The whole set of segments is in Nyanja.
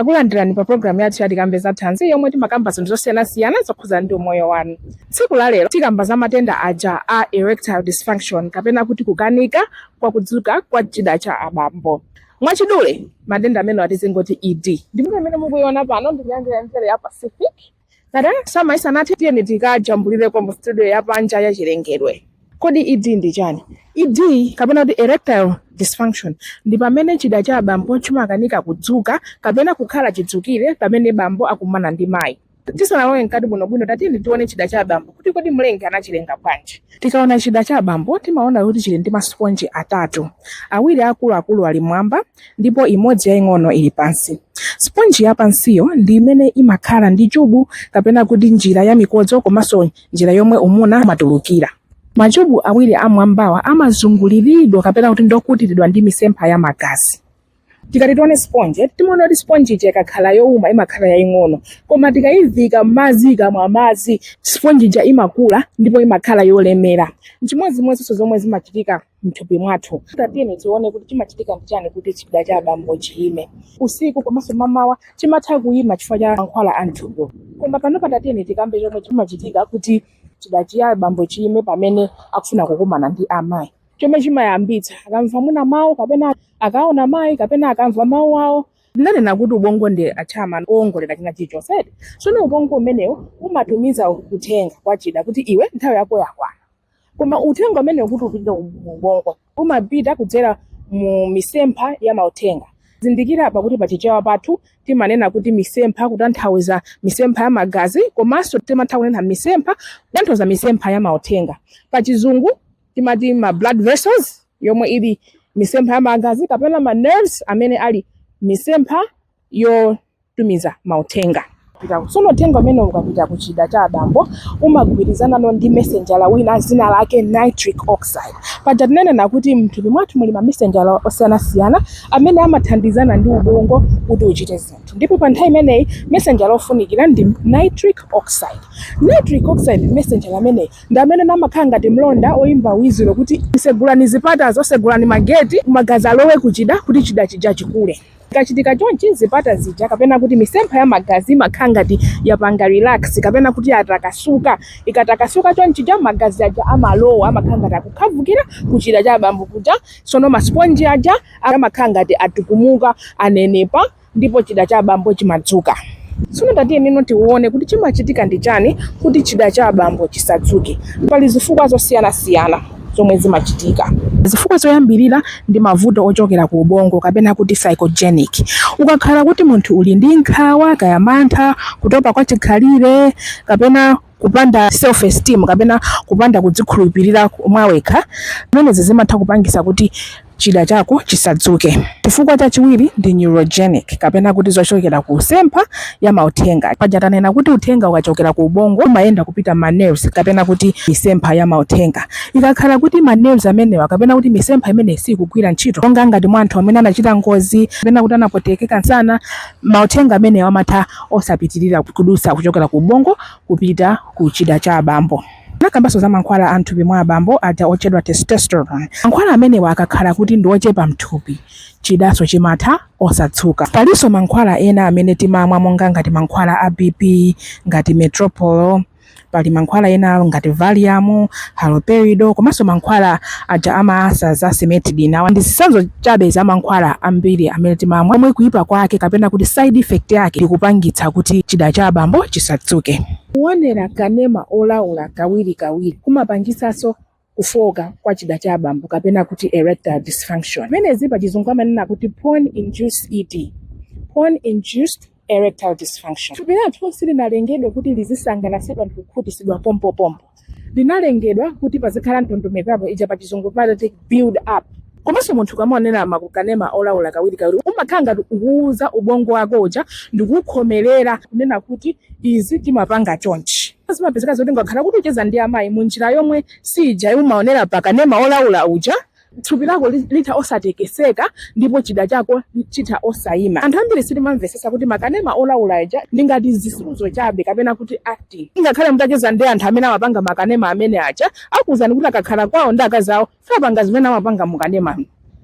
Takulandirani pa programu yathu ya Tikambe za Thanzi yomwe timakamba zinthu zosiyanasiyana zokhudza ndi umoyo wanu. Tsiku la lero tikamba za matenda aja a erectile dysfunction kapena kuti kukanika kwa kudzuka kwa chida cha abambo. Mwachidule matenda amenewa tizingoti ED. Ndipo amene mukuiona pano ndi nyanja ya mchere ya Pacific Ka drama isanathe tiyeni tikajambulireko mu studio ya panja ya chilengedwe. Kodi ED ndi chani? ED kapena kuti erectile dysfunction ndi pamene chida cha abambo chimakanika kudzuka kapena kukhala chidzukire pamene bambo akumana ndi mayi. Tisanalowe mkati bwinobwino tatiyeni tione chida cha abambo kuti kodi mlengi anachilenga bwanji. Tikaona chida cha abambo timaona kuti chili ndi masiponji atatu. Awiri akuluakulu ali m'mwamba ndipo imodzi yaing'ono ili pansi. Siponji yapansiyo ndi imene imakhala ndi chubu kapena kuti njira ya mikodzo komanso njira yomwe umuna umatulukira. Machubu awiri am'mwambawa amazunguliridwa kapena kuti ndokutiridwa ndi misempha ya magazi. Tikati tione siponje, timaona kuti siponje ija ikakhala youma imakhala yaing'ono, koma tikayivika m'madzi ikamwa madzi, siponji ija imakula ndipo imakhala yolemera. N'chimodzimodzinso zomwe zimachitika mthupi mwathu tatiyeni tione kuti chimachitika ndi chani kuti chida cha abambo chiyime usiku komanso mamawa chimatha kuyima chifukwa cha mankhwala a mthupi koma panopa tatiyeni tikambe chomwe chimachitika kuti chida cha abambo chiyime pamene akufuna kukumana ndi amayi chomwe chimayambitsa akamva mwina mawu kapena akaona mayi kapena akamva mawu awo ndinanena kuti ubongo ndi chairman owongolera china chilichonse tsono ubongo umenewo umatumiza uthenga kwa chida kuti iwe nthawi yako yakwana koma uthenga umenewu kuti upite ku ubongo umapita kudzera mu misempha ya mauthenga zindikira apa kuti pachichewa pathu timanena kuti misempha kutanthauza misempha ya magazi komanso timatha kunena misempha kutanthauza misempha ya mauthenga pachizungu timati ma blood vessels yomwe ili misempha ya magazi kapena ma nerves amene ali misempha yo tumiza mauthenga. Tsono uthenga umenewu ukapita ku chida cha abambo umagwirizanano ndi mesenjala wina dzina lake nitric oxide. Paja tinanena kuti mthupi mwathu muli mamesenjala osiyanasiyana amene amathandizana ndi ubongo kuti uchite zinthu, ndipo pa nthawi imeneyi mesenjala ofunikira ndi nitric oxide. Nitric oxide mesenjala ameneyi ndi amene amakhala ngati mlonda oyimba wizilo kuti, Segulani zipatazo, segulani mageti, magazi alowe ku chida kuti chida chija chikule. Zikachitika chonchi, zipata zija kapena kuti misempha ya magazi imakhala ngati yapanga relax kapena kuti yatakasuka. Ikatakasuka chonchija magazi aja amalowa, amakhala ngati akukhavukira kuchida cha abambo kuja. Tsono masiponji aja amakhala ngati atukumuka, anenepa ndipo chida cha abambo chimadzuka. Tsono tatiyenino tione kuti chimachitika ndi chani kuti chida cha abambo chisadzuke. Pali zifukwa zosiyanasiyana. zomwe zimachitika. Zifukwa zoyambirira ndi mavuto ochokera ku ubongo kapena kuti psychogenic. Ukakhala kuti munthu uli ndi nkhawa kaya mantha, kutopa kwa chikhalire kapena kupanda self esteem kapena kupanda kudzikhulupilira mwawekha zimenezi zimatha kupangisa kuti chida chako chisadzuke. Chifukwa chachiwiri ndi neurogenic kapena kuti zochokera ku misempha ya mauthenga. Paja tanena kuti uthenga ukachokera ku ubongo umayenda kupita mma nerves kapena kuti misempha ya mauthenga. Ikakhala kuti ma nerves amenewa kapena kuti misempha imeneyi siikugwira ntchito, monga ngati mwa anthu amene anachita ngozi kapena kuti anapwetekeka nsana, mauthenga amenewa amatha osapitirira kudutsa kuchokera ku ubongo kupita ku chida cha abambo. Tinakambanso za mankhwala a m'thupi mwa abambo aja otchedwa testosterone. Mankhwala amenewa akakhala kuti ndi ochepa m'thupi, chidanso chimatha osadzuka. Palinso mankhwala ena amene timamwa monga ngati mankhwala a BP ngati Metoprol. Pali mankhwala ena ngati Valium, Haloperidol komanso mankhwala aja a ma ulcers a cimetidine. Awa ndi zitsanzo chabe za mankhwala ambiri amene timamwa omwe kuipa kwake kapena kuti side effect yake ndi kupangitsa kuti chida cha abambo chisadzuke. Kuonera kanema olaula kawirikawiri kumapangitsanso kufooka kwa chida cha abambo kapena kuti erectile dysfunction. Zimenezi pachizungu amanena kuti porn induced ED, porn induced erectile dysfunction. Thupi lathu silinalengedwe kuti lizisangalatsidwa ndi kukhutisidwa pompopompo. linalengedwa kuti pazikhala ndondomeko ija pachizungu pamati build up komanso munthu ukamaonera makanema olawula kawirikawiri umakhala ngati ukuwuza ubongo wako uja ndikukhomerera kunena kuti izi timapanga chonchi zimapezeka zoti ukakhala kuti ucheza ndi amayi mu njira yomwe siija umaonera pakanema olawula uja thupi lako litha osatekeseka ndipo chida chako chitha osayima anthu ambiri sitimamvesesa kuti makanema olawula aja ndi ngati zisudzo chabe kapena kuti acting ngakhale mutacheza ndi anthu amene amapanga makanema amene aja akuwuzani kuti akakhala kwawo ndi akazi awo sapanga zimene amapanga mukanema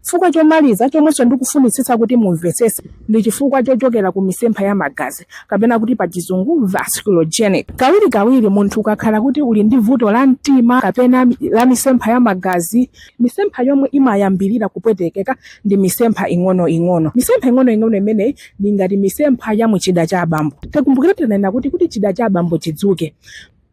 chifukwa chomaliza chomwenso ndikufunitsitsa kuti mumvesese ndi chifukwa chochokera ku misempha ya magazi kapena kuti pa chizungu vasculogenic kawirikawiri munthu ukakhala kuti uli ndi vuto la mtima kapena la misempha ya magazi misempha yomwe imayambirira kupwetekeka ndi misempha ing'onoing'ono misempha ing'onoing'ono imeneyi ndi ngati misempha ya muchida cha abambo tikumbukire tinanena kuti kuti chida cha abambo chidzuke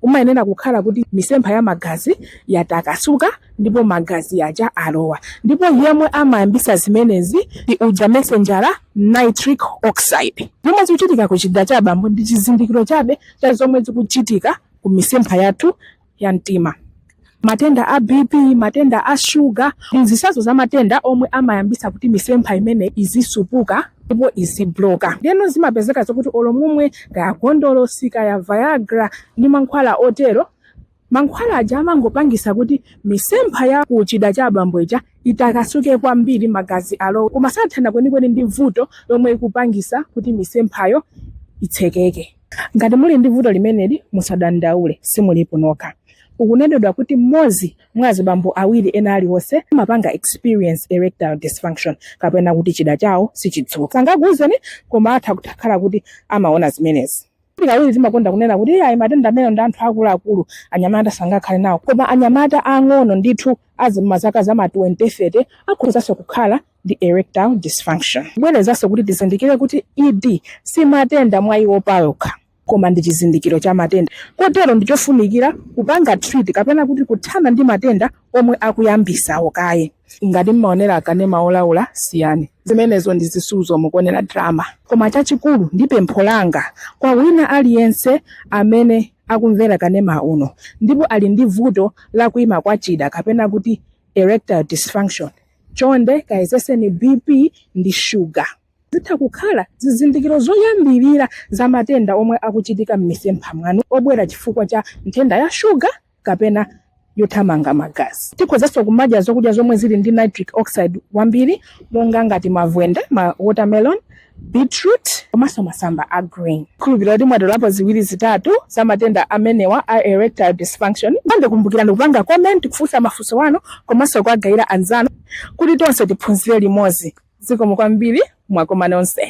kumayenera kukhala kuti misempha ya magazi yatakasuka ndipo magazi aja alowa ndipo yemwe amayambisa zimenezi ndi uja mesenjala nitric oxide zomwe zikuchitika ku chida cha abambo ndi chizindikiro chabe cha zomwe zikuchitika ku misempha yathu ya mtima matenda a BP, matenda a sugar ndi zitsanzo za matenda omwe amayambisa kuti misempha imene izisupuka ndipo izibloka ndeno zimapezeka zokuti olo mumwe kaya gondolosi kaya viagra ndi mankhwala otero mankhwala aja amangopangisa kuti misempha ya kuchida cha abambo ija itakasuke kwambiri magazi alowe koma sathana kwenikweni ndi vuto lomwe ikupangisa kuti misemphayo itsekeke Ngati muli ndi vuto limeneli, musadandaule, simulipo nokha. Ukunenedwa kuti mmodzi mwa azibambo awiri ena aliwonse amapanga experience erectile dysfunction kapena kuti chida chawo sichidzuka. Sangakuuzeni koma atha kukhala kuti amaona zimenezi. Kawiri timakonda kunena kuti iyayi matenda amenewa ndi anthu akuluakulu, anyamata sangakhale nawo. Koma anyamata aang'ono ndithu, a m'mazaka za ma 20, 30 akhozanso kukhala ndi erectile dysfunction. Bwerezanso kuti tizindikire kuti ED si matenda mwa iwo payokha koma ndi chizindikiro cha matenda kotero ndi chofunikira kupanga treat kapena kuti kuthana ndi matenda omwe akuyambisawo kaye. Ngati mmaonera akanema olaula siyani. Zimenezo ndi zisuzo mukuonera drama. Koma chachikulu ndi pempho langa kwa wina aliyense amene akumvera kanema uno ndipo ali ndi vuto la kuima kwa chida kapena kuti erectile dysfunction Chonde kayezeseni BP ndi sugar. Zitha kukhala zizindikiro zoyambirira za matenda omwe akuchitika m'misempha mwanu obwera chifukwa cha nthenda ya sugar kapena yothamanga magazi. Tikhozanso kumadya zokudya zomwe zili ndi nitric oxide wambiri monga ngati mavwende, ma watermelon, beetroot komanso masamba a green khulupirira kuti mwatolapo ziwiri zitatu za matenda amenewa a erectile dysfunction nde kumbukirani kupanga comment kufunsa mafunso anu komanso kuwagayira anzanu kuti tonse tiphunzire limodzi zikomo kwambiri mwakoma nonse